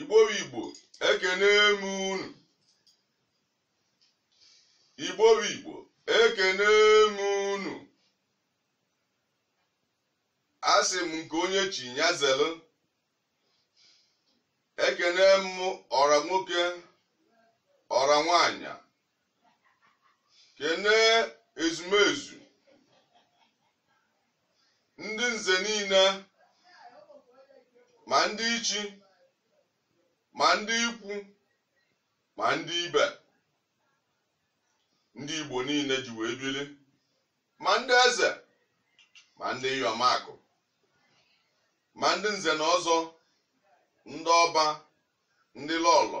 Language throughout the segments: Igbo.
igbo bụ igbo ekene m unu igbo bụ igbo ekene m unu asị m nke onye chi ya zelu ekene m ọra nwoke ọra nwanyị kene ezumezu ndị nze niile ma ndị ichi ma ndị ikwu ma ndị ibe ndị igbo niile ji wee bili ma ndị eze ma ndị iyom akụ ma ndị nze na ọzọ ndị ọba ndị lọlọ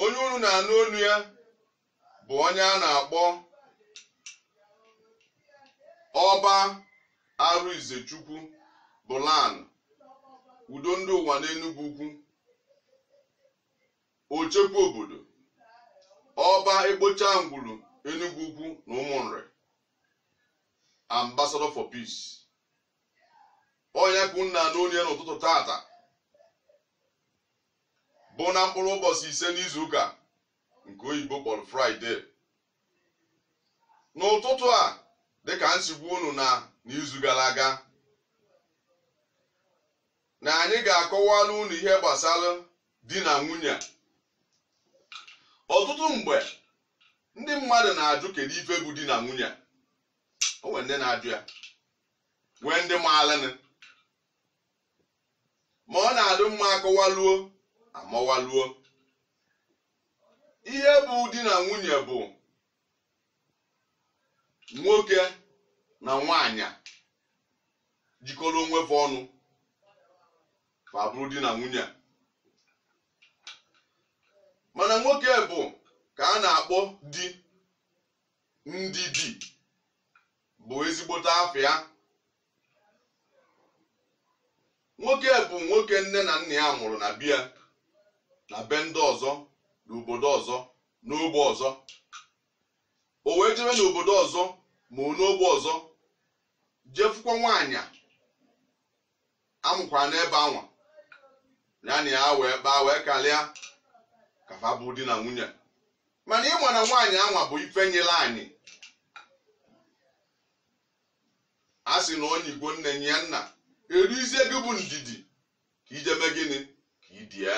Onye unu na-anụ onu ya bụ onye a na-akpọ Ọba Arụizechukwu bụ Lan Udo Ndị Ụwa n'Enugwu Ukwu, Ochekwa Obodo, Ọba Ekpocha Ngwulu Enugwu Ukwu na Ụmụnri, Ambassador for Peace. Ọ nya ka unu na-anụ onu ya n'ụtụtụ tata. bụ na mkpụrụ ụbọchị ise n'izuụka nke oyibo kpọrọ fraịde n'ụtụtụ a dịka m si gwa unu na n'izu gara aga na anyị ga-akọwara unu ihe gbasara di na nwunye ọtụtụ mgbe ndị mmadụ na-ajụ kedu ife bụ di na nwunye o nwere ndị na-ajụ ya nwee ndị maalịnị ma ọ na-adị mma a kọwaluo a mawaluo ihe bụ di na nwunye bụ nwoke na nwaanyị jikọrọ onwe fa ọnụ fa bụrụ di na nwunye mana nwoke bụ ka a na-akpọ di ndị di bụ ezigbote afịa nwoke bụ nwoke nne na nna ya mụrụ na be ya na be ndị ọzọ n'obodo ọzọ n'ogbe ọzọ o wee jebe n'obodo ọzọ ma ọ n'ogbe ọzọ je fụkwa nwaanyị a mụkwara n'ebe anwa ya na ya wee kpaa wee kalịa ka fa bụ di na nwunye mana ị ma na nwaanyị anwa bụ ife nyere anyị a sị na onye igbo nne nye ya nna erizie gị bụ ndidi ka i jee mee gịnị ka i die ya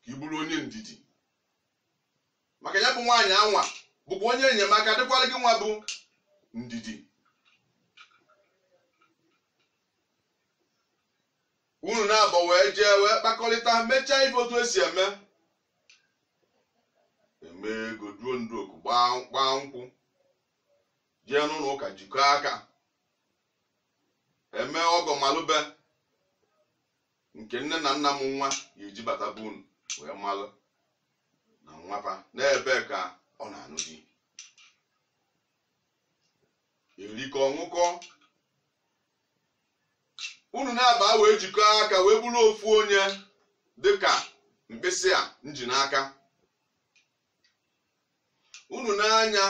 ka ị bụrụ onye ndidi maka ya bụ nwaanyị anwa bụkwa onye enyemaka dịkwara gị nwa bụ ndidi unu naabọ wee jee wee kpakọrịta mechaa ife otu esi eme emee ego duo ndu oku gbaa nkwụ jee n'ụlọ ụka jikọọ aka emee ọgọ malụ be nke nne na nna nwaanyị ji bata be unu wee malụ na nwa fa n'ebe a ka ọ na-anụ di erikọọ aṅụkọọ unu naabọ wee jikọọ aka wee bụrụ ofu onye dịka mkpịsị a m ji n'aka unu nee anya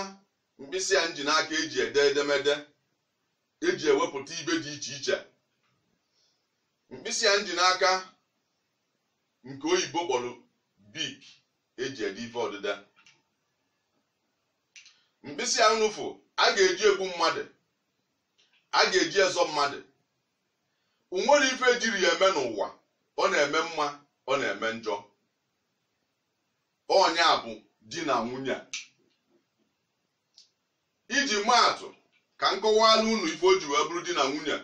mkpịsị a m ji n'aka eji ede edemede eji ewepụta ife dị iche iche mkpịsị a m ji n'aka nke oyibo kpọrọ bic eji ede ife odide mkpịsị a nụfụ a ga-eji egbu mmadụ a ga-eji ezọ mmadụ o nwerọ ife ejirọ ya eme n'ụwa ọ na-eme mma ọ na-eme njọ ọ nya bụ di na nwunye iji maa atụ ka m kọwara unu ife o ji wee bụrụ di na nwunye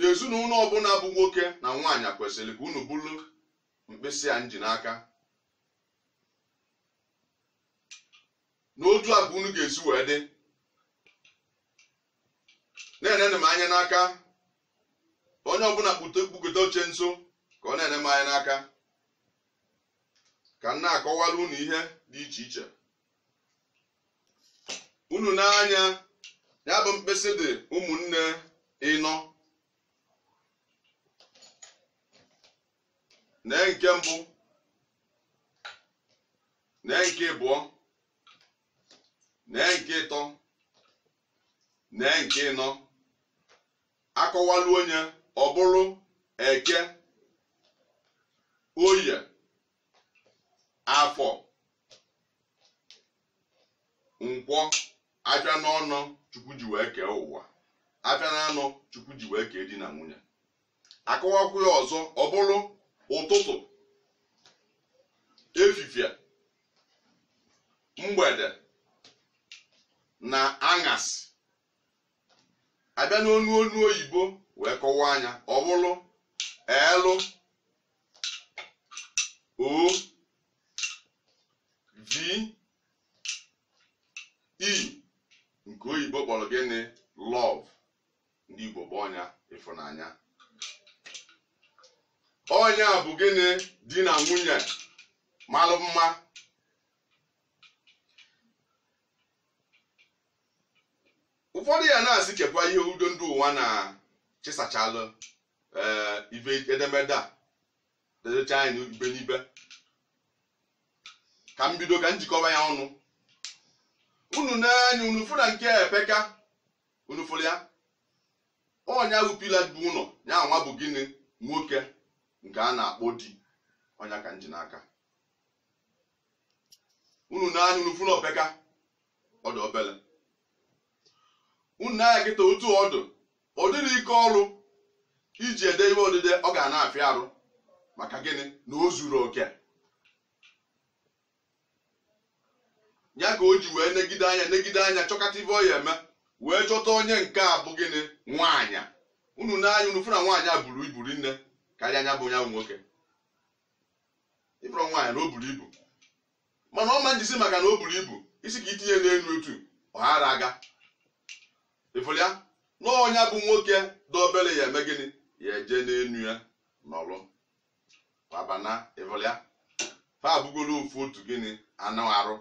ezinụlọ ọbụla bụ nwoke na nwaanyị kwesịrị ka unu bụrụ mkpịsị a m ji n'aka na otu a ka unu ga-esi wee dị na-enenụ m anya n'aka onye ọbụla kpukọta oche nso ka ọ na-ene m anya n'aka ka m na-akọwara unu ihe dị iche iche unu nee anya ya bụ mkpịsị dị ụmụnne ịnọ nee nke mbụ nee nke ịbụọ nee nke ịtọ nee nke ịnọ akọwalu onye ọ bụrụ eke oye afọ nkwọ afịa naanọ chukwu ji wee kee ụwa afịa naanọ chukwu ji wee kee di na nwunye akọwakwuo ya ọzọ ọ bụrụ ụtụtụ efifie mgbede na aṅasị a bịa n'onu onu oyibo wee kọwaa nya ọ bụrụ l o v e nke oyibo kpọrọ gịnị love ndị Igbo kpọọ ya ịfụnanya ọ nya bụ gịnị di na nwunye malụ mma ụfọdụ ya na-asị kekwa ihe udo ndị ụwa na chịsachalụ ee ibe edemede a dedecha anyị ibe n'ibe ka m bido ka m jikọba ya ọnụ unu na anya unu fụ na nke a epeka unu fụrụ ya ọ nya bụ pillar bu ụlọ ya nwa bụ gịnị nwoke nke a na-akpọ di ọ nya ka m ji n'aka unu na anya unu fụrụ o peka ọ dụ obele unu na anya kịta otu ọ dụ ọ dịrị ike ọrụ iji ede ihe odide ọ ga na-afịa arụ maka gịnị na o zurọ oke ya ka o ji wee negide anya negide anya chọkata ife ọ ya-eme wee chọta onye nke a bụ gịnị nwaanyị unu na anya unu fụ na nwaanyị a buru ibu rinne karịa nya bụ nya nwoke ị fụrụ nwaanyị na o buru ibu mana ọ ma njisi maka na o buru ibu i sị ka i tinye n'elu otu ọ ghara aga ị fụrụ ya na ọ nya bụ nwoke dị obere ya-eme gịnị ya-eje n'elu ya nọrọ babana ị fụrụ ya fa abụgolo ofu otu gịnị anụ arụ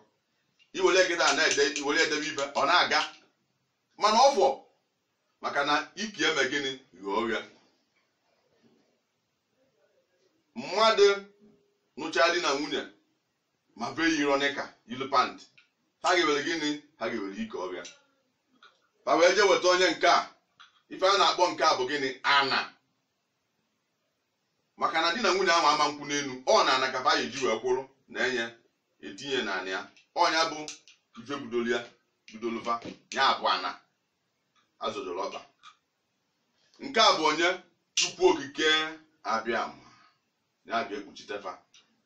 i were gịnị a na-ede i were edebe ife ọ na-aga mana ọ fọ maka na iki eme gịnị ghọọ oghe mmadụ nụcha di na nwunye ma fa eyirọ knicker yili pant ha ga-ewere gịnị ha ga-ewere ike ọbịa ha wee jee weta onye nke a ife a na-akpọ nke a bụ gịnị ana maka na di na nwunye ahụ ama nkwụ n'elu ọ n'ana ka fa ya-eji wee kwụrụ na enye etinye na anị ya ọ nya bụ ife budolu ya budolu va ya bụ ana a zọdoro ọkpa nke a bụ onye chukwu okike abịama ya-abịa ekpuchite fa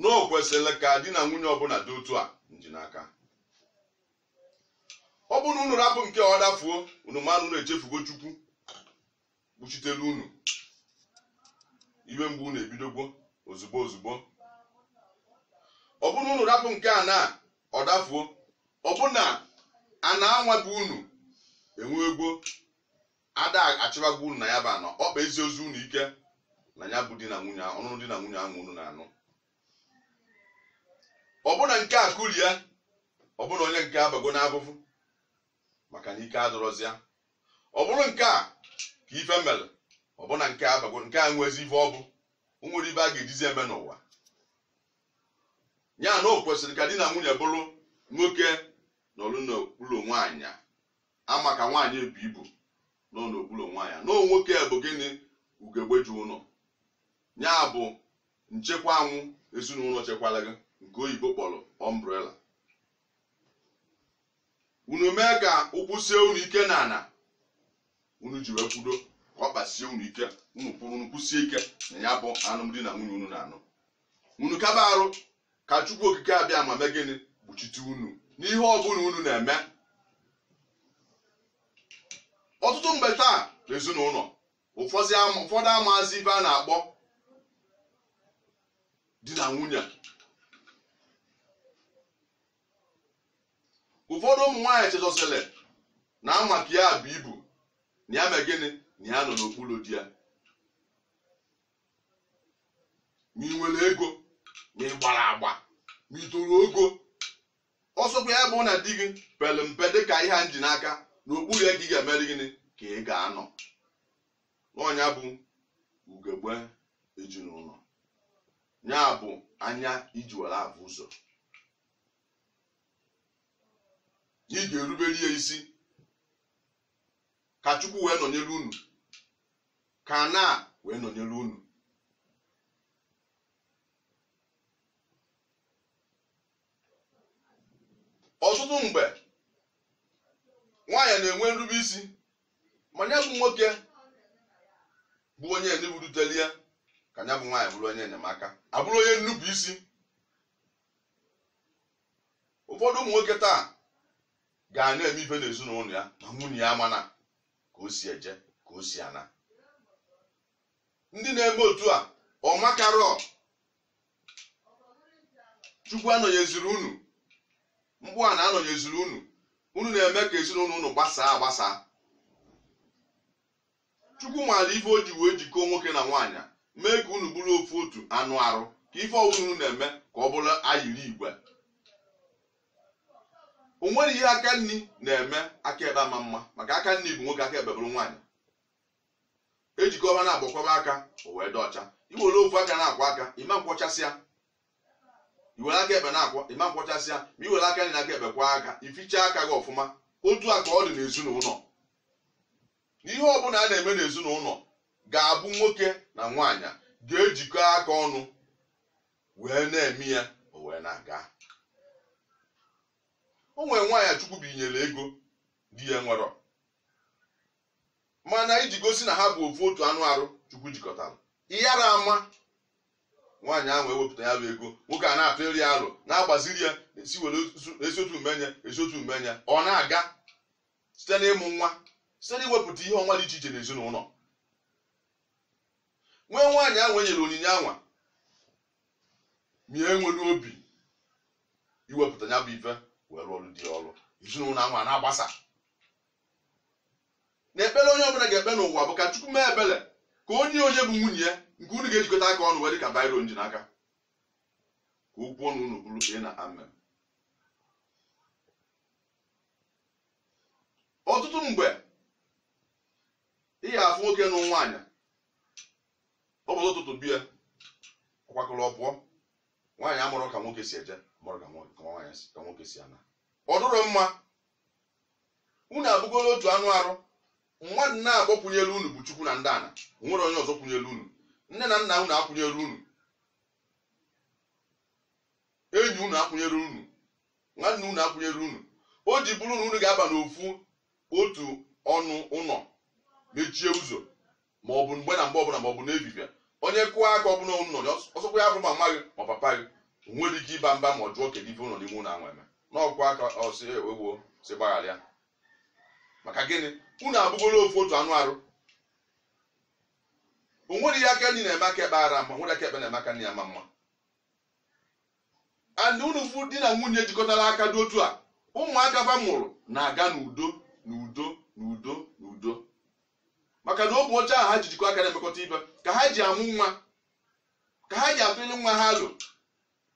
na o kwesịrị ka di na nwunye ọbụla dị otu a m ji n'aka ọ bụrụ na unu rapụ nke ọ dafuo unu ma na unu echefugo chukwu kpuchitere unu iwe mgbe unu ebidogwo ozugbo ozugbo ọ bụrụ na unu rapụ nke ana ọ dafuo ọ bụ na a na-anwa gị unu enwegwo Ada achịbagwo unu na ya bụ ana, ọkpa esirozi unu ike na ya bụ di na nwunye ahụ, ọnụnụ di na nwunye ahụ unu na-anụ. Ọ bụ na nke a kulie, ọ bụ na onye nke a abago n'afụfụ maka na ike adịrọzị ya. Ọ bụrụ nke a ka ife mere, ọ bụ na nke a abago nke a nwezi ife ọ bụ, o nwere ife a ga-ejizi eme n'ụwa. Ya na o kwesịrị ka di na nwunye bụrụ nwoke nọrọ n'okpuru nwaanyị ama ka nwaanyị ebu ibu nọ n'okpuru onwe ya na nwoke bụ gịnị ugegbe ezinụlọ ya bụ nchekwa anwụ ezinụlọ chekwara gị nke oyibo kpọrọ umbrella unu mee ka ụkwụ sie unu ike na ana unu ji wee kwụdo ka ọkpa sie unu ike unu kwụrụ unu kwụsie ike na ya bụ alụmdi na nwunye unu na-anụ unu kaba arụ ka chukwu okike abiama mee gịnị kpuchite unu n'ihe ọbụla unu na-eme ọtụtụ mgbe taa n'ezinụlọ ụfọdụ ama- ụfọdụ amaazị ife a na-akpọ di na nwunye ụfọdụ ụmụ nwaanyị chezọsịrị na ama ka ya bu ibu na ya mee gịnị na ya nọ n'okpuru di ya ma ị nwere ego ma ị gbara agba ma ị toro ogo ọ sọkwa ya bụ na di gị pere mpe dị ka ihe a m ji n'aka n'okpuru ya ka ị ga-emeri gịnị ka ị ga-anọ na ọ nya bụ ugegbe ezinụlọ ya bụ anya i ji were afụ ụzọ na ị ga-erubere ya isi ka chukwu wee nọnyere unu ka ana wee nọnyere unu ọtụtụ mgbe nwaanyị na-enwe nrube isi ma ya bụ nwoke bụ onye eneburutere ya ka ya bụ nwaanyị bụrụ onye enyemaka abụrụ onye nnupụ isi ụfọdụ ụmụ nwoke taa ga na-eme ife n'ezinụlọ ya ma nwunye ya amana ka o si eje ka o si ana ndị na-eme otu a ọ makarọ chukwu anọnyeziri unu ma ọ bụ ana anọnyeziri unu unu na-eme ka ezinụlọ unu gbasaa agbasa chukwu maara ife o ji wee jikọọ nwoke na nwaanyị mee ka unu bụrụ ofu otu anụ arụ ka ife ọbụla unu na-eme ka ọ bụrụ ayiri igwe o nwere ihe aka nni na-eme aka ekpe ama mma maka aka nni bụ nwoke aka ekpe bụrụ nwaanyị e jikọ ha naabọ kwọba aka o wee dị ọcha i were ofu aka na-akwọ aka ị ma nkwọchasịa i were aka ekpe na-akwọ ị ma nkwọchasịa ma i were aka nni na aka ekpe kwọọ aka i fichaa aka gị ọfụma otu a ka ọ dị n'ezinụlọ ihe ọbụla a na-eme n'ezinụlọ ga-abụ nwoke na nwaanyị ga-ejikọ aka ọnụ wee na-eme ya o wee na-aga o nwere nwaanyị chukwu binyere ego di ya nwerọ mana iji gosi na ha bụ ofu otu anụ arụ chukwu jikọtara ịyara ama nwaanyị ahụ ewepụta ya bụ ego nwoke a na-atụrụ ya alo na-agbaziri ya esi were esi otu mee ya ọ na-aga site n'ịmụ nwa site n'iwepụta ihe ọma dị iche iche n'ezinụlọ nwee nwaanyị ahụ e nyere onyinye anwa ma ya enwerọ obi iwepụta ya bụ ife wee rụọrọ di ya ọrụ ezinụlọ anwa na-agbasa na ekpere onye ọbụla ga-ekpe n'ụwa bụ ka chukwu mee ebere ka onye onye bụ nwunye ya nke unu ga-ejikọta aka ọnụ wee dị ka biro m ji n'aka ka okwu ọnụ unu bụrụ ee na amen ọtụtụ mgbe ị ya afụ nwoke nụ nwaanyị ụbọchị ụtụtụ bịa ọ kwakọrọ ọ pụọ nwaanyị amarọ ka nwoke si eje marọ ka nwoke si ana ọ dịrọ mma unu abụgoro otu anụ arụ mmadụ naabọ kwụnyere unu bụ chukwu na ndị ana nwerọ onye ọzọ kwụnyere unu nne na nna unu akwụnyerọ unu enyi unu akwụnyerọ unu nwanne unu akwụnyerọ unu o ji bụrụ na unu ga-aba n'ofu otu ọnụ ụlọ mechie ụzọ ma ọ bụ mgbe na mgbe ọbụla ma ọ bụ n'efifie onye kụọ aka ọbụla unu nọ ọ sọkwa ya bụrụ mama gị ma papa gị nwerọ ike ịba mba ma ọ jụọ kedu ife unu nọ n'ime ụlọ anwa eme na ọ kụọ aka ọ sị ewo sị gbaghara ya maka gịnị unu abụgoro ofu otu anụ arụ o nwere ihe aka nni na-eme aka ekpe ara mma nwere aka ekpe na-eme aka nni ya ma mma and unu fụ di na nwunye jikọtara aka dị otu a ụmụaka fa mụrụ na-aga n'udo n'udo n'udo n'udo maka na obi ọcha ahụ ha ji jikọ aka na-emekọta ibe ka ha ji amụ nwa ka ha ji atụnye nwa ha alo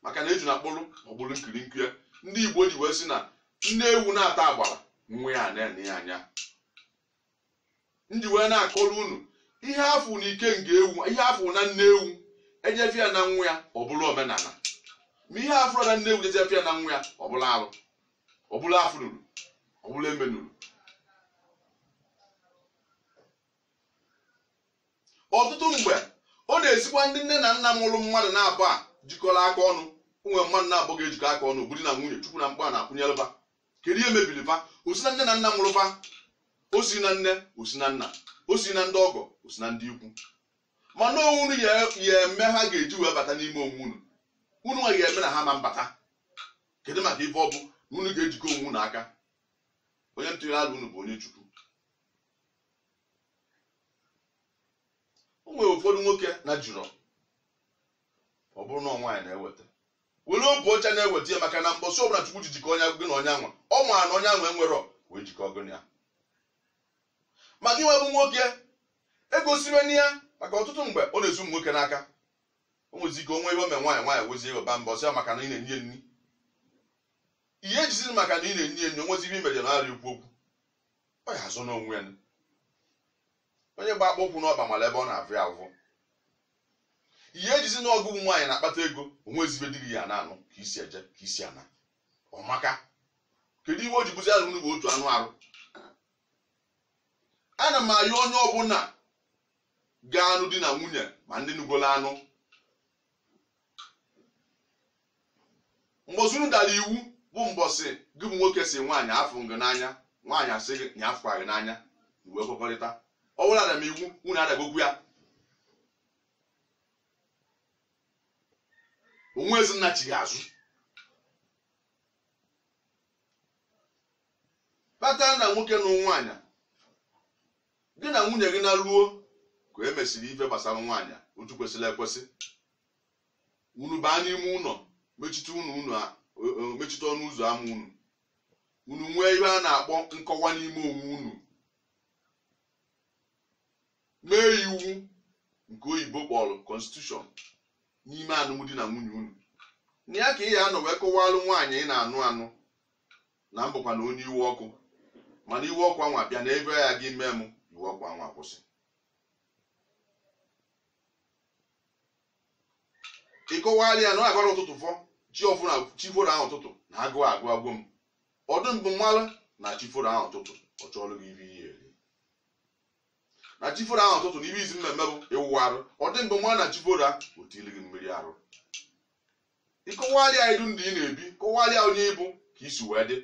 maka na ejuna kpụrụ ọ kpụrụ nkiri nkiri ndị igbo ji wee sị na nne ewu na-ata agbara nwa ya na-ene ya anya m ji wee na-akọrọ unu ihe afụ na ike nne ewu ihe afụ na nne ewu e je fụ ya na nwa ya ọ bụrụ omenala ma ihe afụrọ na nne ewu jee je fụ ya na nwa ya ọ bụrụ arụ ọ bụrụ afụnurọ ọ bụrụ emenurọ ọtụtụ mgbe ọ na-esikwa ndị nne na nna mụrụ mmadụ naabọ jikọrọ aka ọnụ o nwee mmadụ naabọ ga-ejikọ aka ọnụ bụrụ na nwunye chukwu na mkpa na-akwụnyele fa kedu ihe mebiri fa o si na nne na nna mụrụ fa o si na nne o si na nna o si na ndị ọgọ o si na ndị ikwu mana ọ unu ya-eme ha ga-eji wee bata n'ime onwe unu unu nwa ga-eme na ha ama abata kedu maka ife ọ bụ na unu ga-ejikọ onwe unu aka onye ntụnyere ala unu bụ onye chukwu o nwere ụfọdụ nwoke na-ejirọ ọ bụrụ na nwaanyị na-eweta were obu ọcha na-eweta ya maka na mbọsị ọbụla Chukwu ji jikọ onye gị na onye anwa ọ maara na onye anwa enwerọ wee jikọ gị na ya ma gị nwa bụ nwoke egosiwena ya maka ọtụtụ mgbe ọ na-esi ụmụ nwoke n'aka o nwezi ike o nwee ihe o mee nwaanyị nwaanyị wezie iwe baa mba sị ya maka na ị na-enye nri ihe ejiziri maka na ị na-enye nri o nwezi ihe i mere na arị okwu okwu ọ ya-azụ n'onwe ya onye gba akpụ ụkwụ n'ọkpa mara ebe ọ na-avụ ya avụ ị ya-ejizi na ọ gị bụ nwaanyị na-akpata ego o nwezi ebe di gị ya na-anụ ka i si eje ka i si ana ọmaka kedu ihe o ji bụzi na unu bụ otu anụ arụ ana m ayọ onye ọbụla ga-anụ di na nwunye ma ndị nugolo anụ mbọsị unu dara iwu bụ mbọsị gị bụ nwoke sị nwaanyị afụ m gị n'anya nwaanyị asị gị nya afụkwa gị n'anya e wee kwekọrịta ọ bụrụ ada m iwu unu adagokwu ya o nwezi nnachigha azụ kpata na nwoke na nwaanyị Gị na nwunye gị naruo ka e mesịrị ife gbasara nwaanyị a otu kwesịrị ekwesị. Unu baa n'ime ụlọ mechite ọnụ ụzọ ama unu. Unu nwee ihe a na-akpọ nkọwa n'ime onwe unu. Mee iwu nke oyibo kpọrọ constitution n'ime alụmdi na nwunye unu. Na ya ka ị ya-anọ wee kọwalụ nwaanyị ị na-anụ anụ na m bụkwanụ onye iwe ọkụ mana iwe ọkụ anwa bịa na ihe a gị mee m iwe ọkụ anwa kwụsị ị kọwalụ ya na ọ agara ụtụtụ fọ chi ọ fụ na chi foro ahụ ụtụtụ na agụụ agụgo m ozugbo ọ malụ na chi foro ahụ ụtụtụ ọ chọọlụ gị ihe ị ya-eri na chi foro ahụ ụtụtụ na ihe izizi m na-eme bụ ịwụ arụ ozugbo ọ malụ na chi foro o wetelụ gị mmiri arụ ị kọwalị ya ụdị ndụ ị na-ebi kọwalị ya onye ị bụ ka i si wee dị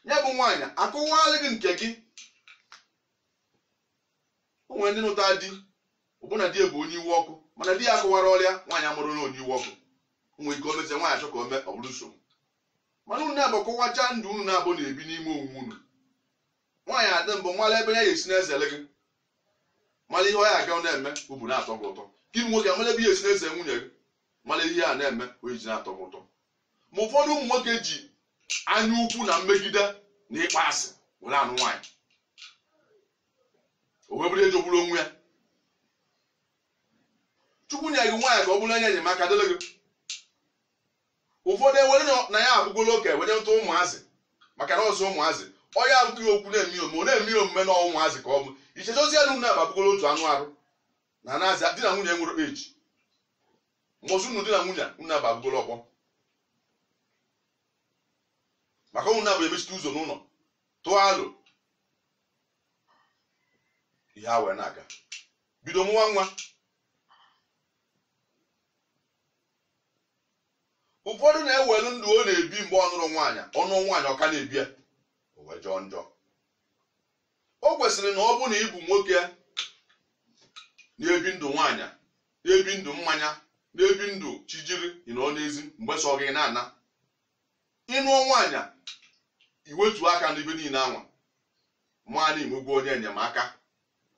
ya bụ nwaanyị akọwalị gị nke gị o nwere ndị nụta di ọ bụ na di ya bụ onye iwe ọkụ mana di ya akọwarọlị ya nwaanyị amarọ na onye iwe ọkụ o nwere ike o mezie nwaanyị achọ ka o mee ọ bụrụ nsogbu mana unu naabọ kọwachaa ndụ unu naabọ na-ebi n'ime onwe unu nwaanyị adị mbụ mara ebe ọ ya-esi na-ezere gị mara ihe ọ ya aga na-eme obi na-atọ gị ụtọ gị bụ nwoke mara ebe ị ya-esi na-ezere nwunye gị mara ihe a na-eme o ji na-atọ gị ụtọ ma ụfọdụ ụmụ nwoke ji anya ukwu na mmegide na ịkpọ asị were anụ nwaanyị o wee bụrụ ihe jọgburu onwe ya chukwu nye gị nwaanyị ka ọ bụrụ onye enyemaka dịrị gị ụfọdụ ewere na ya abụgolo oke were ntụ ụmụazị maka na ọzọ ụmụazị ọ ya abụghị okwu na-eme omume ọ na-eme ya omume na ọ ụmụazị ka ọ bụ ichezọzie na unu naabọ abụgolo otu anụ arụ na anazi di na nwunye nwere eji mbọsị unu di na nwunye unu naabọ abụgolo ọgbọ maka unu naabọ emechite ụzọ n'ụlọ tụọ alo ihe a wee na-aga bido mụwa nwa ụfọdụ na-ewelu ndụ ọ na-ebi mgbe ọ nụrọ nwaanyị ọ nụọ nwaanyị ọ ka na-ebi ya o wee jọọ njọ o kwesịrị na ọ bụ na ị bụ nwoke na-ebi ndụ nwaanyị na-ebi ndụ mmanya na-ebi ndụ chi jiri ị nọ n'ezi mgbe sọ gị na-ana ị nụọ nwaanyị i wetuo aka n'ife niile anwa ma na i nwegwo onye enyemaka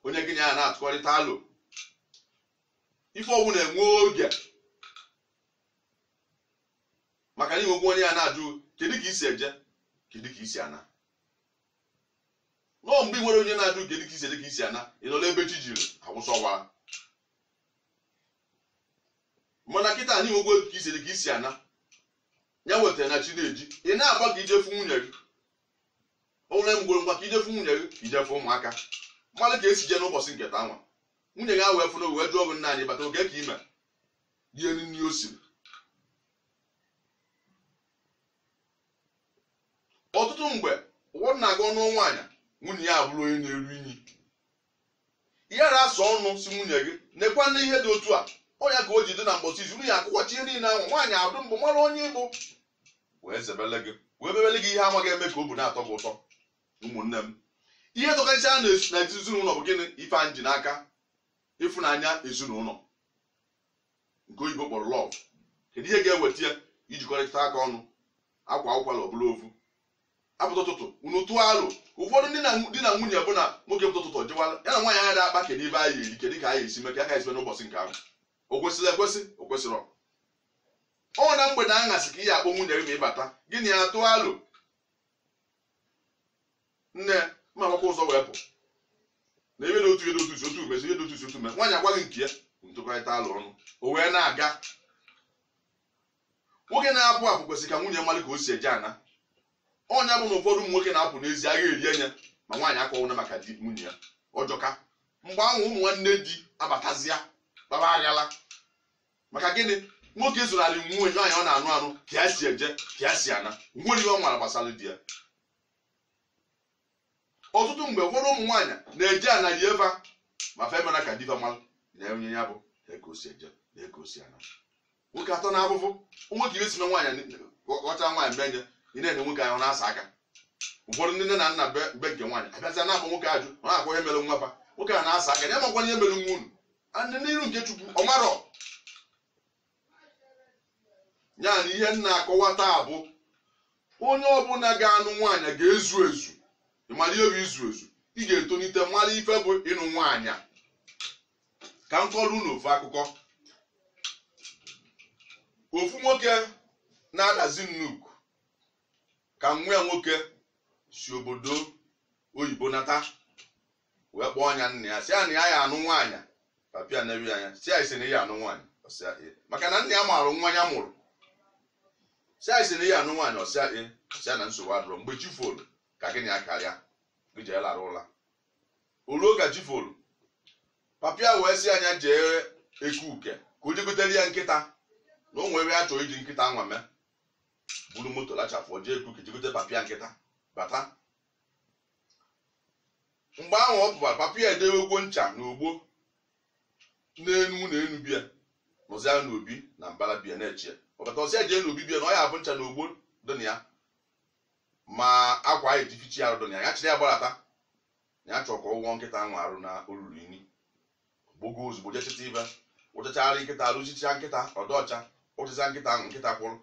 onye gị na ya na-atụkọrịta alo ife ọbụna enwee oge maka na i nwegwo onye ya na-ajụ kedu ka i si eje kedu ka i si ana nọọ mgbe i nwerọ onye na-ajụ kedu ka i si eje ka i si ana ị nọ n'ebe chi jiri awụsọwa mana kịta na i nwegwo ka i si eje ka i si ana ya wetara na chi na-eji ị na-agba ka i je fụ nwunye gị o nwere mgbe ngwa ka i je fụ nwunye gị ka i je fụ ụmụaka malụ ka e si jee n'ụbọsị nke taa nwa nwunye gị ewee fụrụ wee jụọ gị nna anyị bata oge ka i wee rie nri o siri ọtụtụ mgbe ụfọdụ na-aga anụ nwaanyị nwunye ya abụrụ onye na-eru inyi ihe na-asọ ọnụ sị nwunye gị nekwa na ihe dị otu a ọ ya ka o ji dị na mbọsị izu nwunye akwụkwọchi ihe niile ahụ nwaanyị adụ mbụ mara onye ị bụ wee zebele gị wee mebele gị ihe amaghị eme ka obi na-atọ gị ụtọ ụmụnne m ihe tọkacha na ezinụlọ bụ gịnị ife anyị ji n'aka ịfụnanya ezinụlọ nke oyibo kpọrọ lọv kedu ihe ga-eweta ya ijikọrịta aka ọnụ a kwaa ụkwala ọ bụlụ ofu a pụta ụtụtụ unu tụọ alo ụfọdụ ndị di na nwunye bụ na nwoke pụta ụtụtụ jewala ya na nwaanyị agaghị akpa kedu ife anyị ya-eri kedu ka anyị ya-esi mee ka a ga-esi mee n'ụbọchị nke ahụ o kwesiri ekwesi o kwesirọ ọ na mgbede aṅasị ka ị ya-akpọ nwunye gị ma ị bata gị na ya tụọ alo nne ya ma agbakwa ụzọ wee pụ na ebe na otu ihe dotusi otu mezi ihe dotusi otu mezi nwaanyị agwaghị nke ya ntụkọrịta alo ọnụ o wee na-aga nwoke na-apụ apụ kwesịrị ka nwunye malụ ka o si eje ana ọ nya bụ na ụfọdụ ụmụ nwoke na-apụ n'ezi agha eri anya ma nwaanyị akọwụna maka di nwunye ya ọ jọka mgbe ahụ ụmụ nwanne di abatazịa gbaba aghala maka gịnị nwoke zonarị nwunye nwaanyị ọ na-anụ anụ ka ya si eje ka ya si ana nwere ihe ọ mara gbasara di ya ọtụtụ mgbe ụfọdụ ụmụ nwaanyị na-eje ana rie eva ma fa emena ka di va mara na ọ nya bụ na eke o si eje na eke o si ana nwoke atọ na afụfụ o nwee ka e si na nwaanyị ghọta nwaanyị mgbe nye ị na-ene nwoke ahụ na-asa aka ụfọdụ ndị nne na nna be be nke nwaanyị abịazịa na-akpọ nwoke ajụ ọ na-akpọ ihe mere nwa fa nwoke a na-asa aka ya makwa ihe mere nwa unu and n'iru nke chukwu ọ marọ ya na ihe m na-akọwa taa bụ onye ọbụla ga-anụ nwaanyị ga-ezu ezu ị mara ihe bụ izu ezu ị ga-etonite mara ife bụ ịnụ nwaanyị ka m kọọrọ unu ofu akụkọ ofu nwoke na-akazi nnukwu nka nwa ya nwoke si obodo oyibo nata wee kpọọ onye nna ya sị ya na ya ya-anụ nwaanyị papa ya nee ya anya sị ya ị sị na ị ya-anụ nwaanyị ọ sị ya ee maka na nna ya maara nwa ya mụrụ sị ya ị sị na ị ya-anụ nwaanyị ọ sị ya ee sị ya na nsogbu adịrọ mgbe chi folu ka gị na ya karịa gị jee larụ ụla o luo ka chi folu papa ya wee sị ya nya jee eke uke ka o jee gotere ya nkịta na o nwere ihe ya chọrọ iji nkịta nwa mee buru moto lachafụ jee eke uke jee gote papa ya nkịta bata mgbe ahụ ọ pụbara papa ya edewegwo ncha na ogbo n'enu na enu bịa nọzia n'obi na mbara bịa na-eche ya ọ bata ọ sị ya jee n'obi bịa na ọ ya-afụ ncha na ogbo dị na ya ma akwa anyị ji eficha arụ dị na ya ya chịrị ya gbadata na ya chọrọ ka ọ wụọ nkịta ahụ arụ na o lulu inyi gbogo ozugbo jee chịta ife wụchachara nkịta arụ chichaa nkịta ọ dị ọcha o chichaa nkịta ahụ nkịta kwụrụ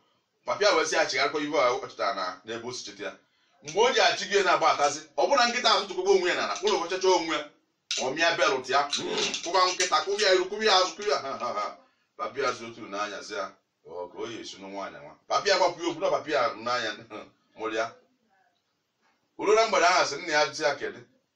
papa ya wee sị ya chigharịkwa ife a ọ chịtara na n'ebe o si chịta ya mgbe o ji achị gị na-agbatazi ọ bụrụ na nkịta ahụ tụkọba onwe ya n'ala ụlọ ọchacha onwe ya ọ mịa belt ya kụba nkịta kụba ya iru kụba ya azụ kụba ya ha ha ha papa ya zụ otu n'anya sị ya ọ ka o yi esi nụ nwaanyị nwa papa ya gbapụ ya okwu na papa ya n'anya mụrụ ya o lu na mgbede ahụ sị nna ya jụzi ya kedu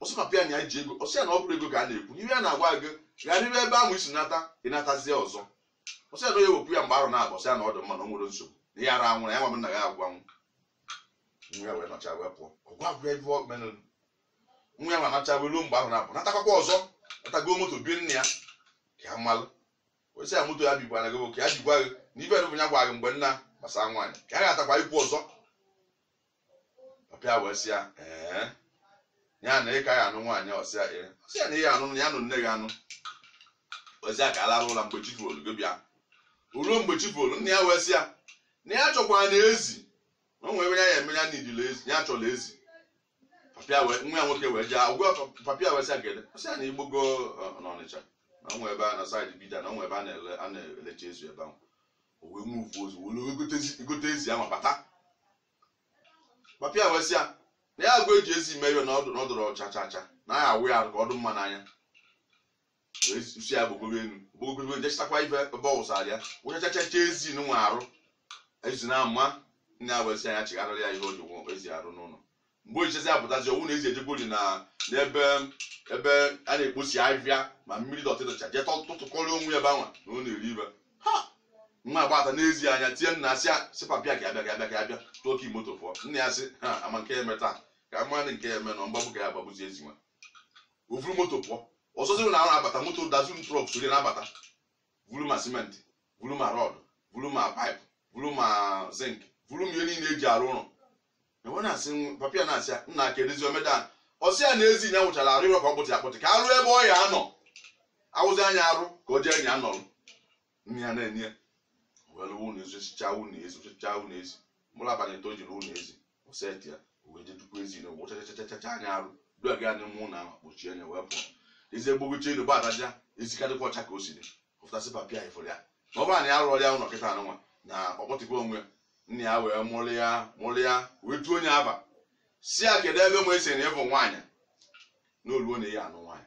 ọ sị papa ya na ya ji ego ọ sị ya na ọ bụrọ ego ka a na-ekwu n'ihe a na-agwa gị gharịrị ebe ahụ i si nata ị natazie ọzọ ọ sị ya na onye wepụ ya mgbe arọ naabọ ọ sị ya na ọ dị mma na o nwerọ nsogbu na ihe ara anwụrụ ya nwa m nna gị agwa nwa ya wee nọchaa wee pụọ ọ gwa agwa ife o mere nwa ya nwa nọchaa wee ruo mgbe arọ naabọ natakwa ọzọ nata go moto bie nne ya ka ya malụ ọ sị ya moto ya bigwa na gị ka ya bigwa gị na ife bụ ya gwa gị mgbe nna gbasara nwaanyị ka ya ga-atakwa ikwu ọzọ papa ya wee sị ya ee ya na ị ka ya-anụ nwaanyị ọ sị ya ee ọ sị ya na ihe anụ ya nụ nne gị anụ ọ sị ya ka a lara ụla mgbe chi folu gị bịa ruo mgbe chi folu nna ya wee sị ya na ya chọkwara na ezi na o nwere ya ya eme ya na idile ezi ya chọrọ ezi papa ya wee nwa ya nwoke wee jee gwa papa ya wee sị ya kedu ọ sị ya na i gbogo n'Ọnịcha na o nwe ebe a na saịdị Bida na o nwe ebe a na-ele a na-elecha ezi ebe ahụ o wee muvu ozugbo o lu gote ezi ahụ bata papa ya wee sị ya na ya agwa eji ezi mee ihe na ọ dịrọ ọcha cha cha na ya awụ ya ka ọ dị mma n'anya wee si ya gbogogo elu gbogogo jee chịtakwa ife ebe ọ wụsara ya ọ wụchachacha ezi nwa arụ ezi na-ama nna ya wee sị ya chigharịrị ya ihe o ji wụọ ezi arụ n'ụlọ mgbe o ji chezi apụtazi ọ wụ na ezi ejegori na n'ebe ebe a na-ekposi ahịhịa ma mmiri dọtị dọcha jee tọ- tụtụkọrọ onwe ya ebe anwa na ọ na-eri ibe ha nwa agbata n'ezi anya tie nna asị a sị papa ya ka ya bịa ka ya bịa ka ya bịa tụọ ka imoto pụọ nna ya sị ha ama nke ya eme taa ka a marụ nke ya eme na mgbagbu ka ya agbagbuzi ezi nwa o vuru moto pụọ ọzọ sịrị na a na-abata moto Datsun trọk sori na-abata vuru ma simenti vuru ma rọd vuru ma paịpụ vuru ma zink vuru ma ihe niile e ji arụ ụlọ e wee na-asị nwa- papa ya na-asị ya nna kedụzi omeda a ọ sị ya na ezi ya wụchara arụ ịrọ ka ọ kpụtị akpụtị ka a rụ ebe ọ ya-anọ a wụzie nya arụ ka o jee nya nọrọ nne ya na-enye ya were ụlọ ezi osichaa ụlọ ezi osichaa ụlọ ezi mụrụ abalị ịtọ jiri ụlọ ezi o seti ya wee jee dukwa ezi nwa wụchachachachacha nya arụ dua gị anya mụ na ahụ kpochie nya wee pụọ ezi egbogochi elu gbadaja ezi ka dịkwa ọcha ka o siri wụfụta sị papa ya ị fụrụ ya na ọ bụrụ na ya rụọrọ ya ụlọ kịta anụnwa na ọ kpọtịkwa onwe ya nna ya wee mụrụ ya mụrụ ya wee tuo onye aba sị ya kedu ebe nwa esi na ịbụ nwaanyị na o ruo na ị ya-anụ nwaanyị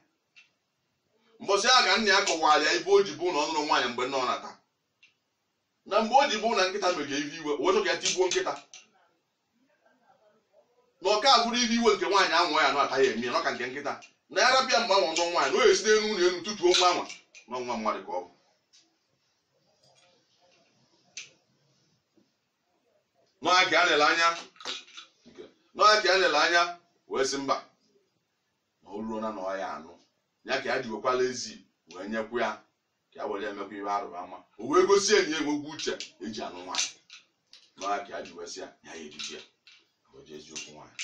mbọsị ya ka nna ya kọwara ya ihe o ji bụ na ọ nụrụ nwaanyị mgbe nna ọ nata na mgbe o ji fụ na nkịta mere ihe iwe wee chọọ ka ya tigbuo nkịta na ọka abụrụ ihe iwe nke nwaanyị anwa ya nụta ya-eme ya na ọ ka nke nkịta na ya rapụ ya mgbe anwa nụọ nwaanyị na o esi n'elu ụlọ elu tutuo nwa anwa na ọ nwa mmadụ ka ọ bụ na ọ ya ka a na-ele anya na ọ ya ka a na-ele anya wee sị mba na o ruo na na ọ ya-anụ ya ka ya ji wekwala ezi wee nyekwa ya ka ya were emekwa ihe arụba ama o wee gosi anyị ya enwego uche eji anụ nwaanyị na ọ ya ka ya ji wee sị ya ya ya ejiji ya o jezie okwu nwaanyị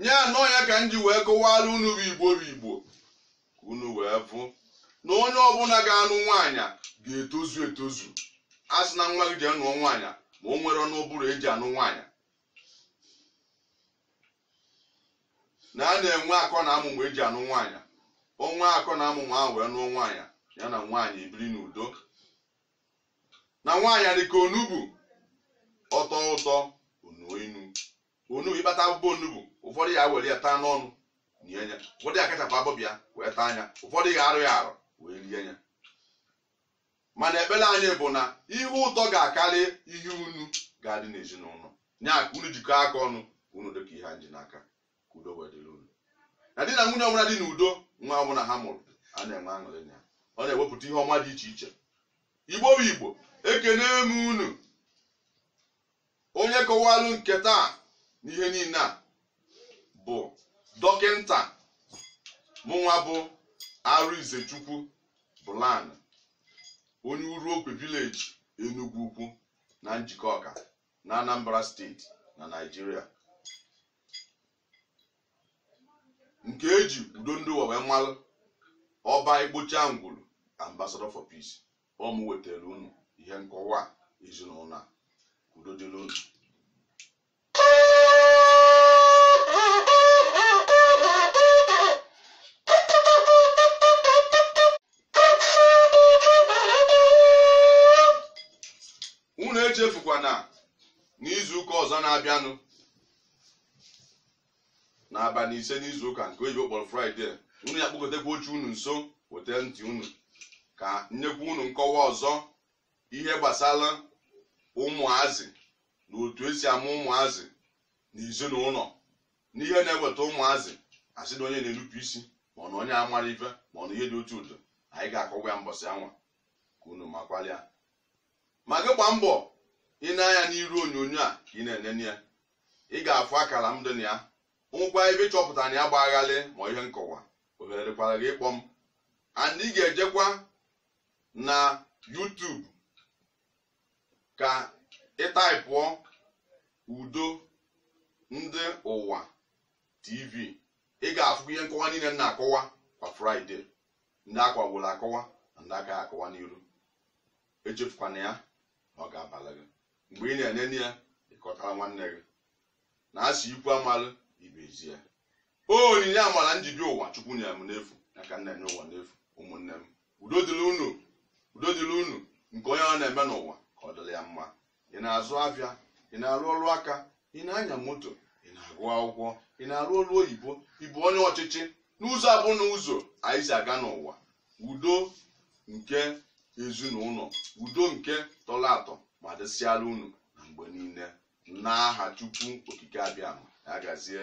nye anụ ọ ya ka m ji wee kọwara unu bụ igbo bụ igbo ka unu wee fụ na onye ọbụla ga-anụ nwaanyị ga-etozu etozu asịna nwa gị jee nụọ nwaanyị ma o nwerọnụ ụbụrụ eji anụ nwaanyị na a na-enwe akọ na amụmụ eji anụ nwaanyị o nwee akọ na amụmụ ahụ wee nụọ nwaanyị ya na nwaanyị ebiri n'udo na nwaanyị dị ka onugbu ọ tọọ ụtọ o nuo inu onugbu ị kpata abụbọ onugbu ụfọdụ ya were ya taa n'ọnụ nye ya ụfọdụ ya kachapụ abụbọ ya wee taa nya ụfọdụ ya arụ ya arụ wee rie ya mana ekpere anyị bụ na ihe ụtọ ga-akarị ihe inu ga-adị n'ezinụlọ nya ka unu jikọọ aka ọnụ na udo ka ihe anyị ji n'aka ka udo wee dịrị unu na di na nwunye ọbụla dị n'udo nwa ọbụla ha mụrụ a na-enwe aṅụrị na ya ọ na-ewepụta ihe ọma dị iche iche igbo bụ igbo ekene m unu onye kọwalụ nke taa n'ihe niile a bụ dọkịnta mụnwa bụ arinzechukwu bụlan onye uruokwe village enugwu ukwu na njikọka na anambra state na nigeria nke eji udo ndị ụwa wee malụ ọba igbocha ngwuru ambassador for peace ọ mụ wetara unu ihe nkọwa ezinụlọ a udo dịrị unu unu echefukwana n'izu ụka ọzọ na-abịanụ n'abalị ise n'izu ụka nke oyibo kpọrọ friday unu ya kpọkọtakwa oche unu nso weta ntị unu ka m nyekwa unu nkọwa ọzọ ihe gbasara ụmụazị na otu esi amụ ụmụazị na ezinụlọ na ihe na-eweta ụmụazị a sị na onye na-enupụ isi ma ọ na onye a mara ife ma ọ na ihe dị otu ọdọ anyị ga-akọwa ya mbọsị anwa ka unu makwalụ ya ma gị gbaa mbọ ị nee anya n'iru onyonyo a ka ị na-enene ya ị ga-afụ akara m dị na ya nwekwa ebe ị chọpụta na ya gba gharịị ma ihe nkọwa ohere dịkwara gị ịkpọ m and ị ga-ejekwa na YouTube ka ị taịpụọ udo ndị ụwa tv ị ga-afụkwa ihe nkọwa niile m na-akọwa kwa Friday ndị a kọwaworo akọwa na ndị a ga-akọwa n'iru echefukwana ya na ọ ga-abara gị mgbe ị na-enene ya ị kọtara nwanne gị na a sị ikwu amalụ ibe ezi ya ọ onyinye amara m ji bịa ụwa chukwu nyere m n'efu ya ka m na-enye ụwa n'efu ụmụnne m udo dịrị unu udo dịrị unu nke onye ọ na-eme n'ụwa ka ọ dịrị ya mma ị na-azụ afịa ị na-arụ ọrụ aka ị na-anya moto ị na-agụ akwụkwọ ị na-arụ ọrụ oyibo ị bụ onye ọchịchị n'ụzọ a bụ na ụzọ anyị si aga n'ụwa udo nke ezinụlọ udo nke tọrọ atọ ma dịsịara unu na mgbe niile n'aha chukwu okike abịama ya gazie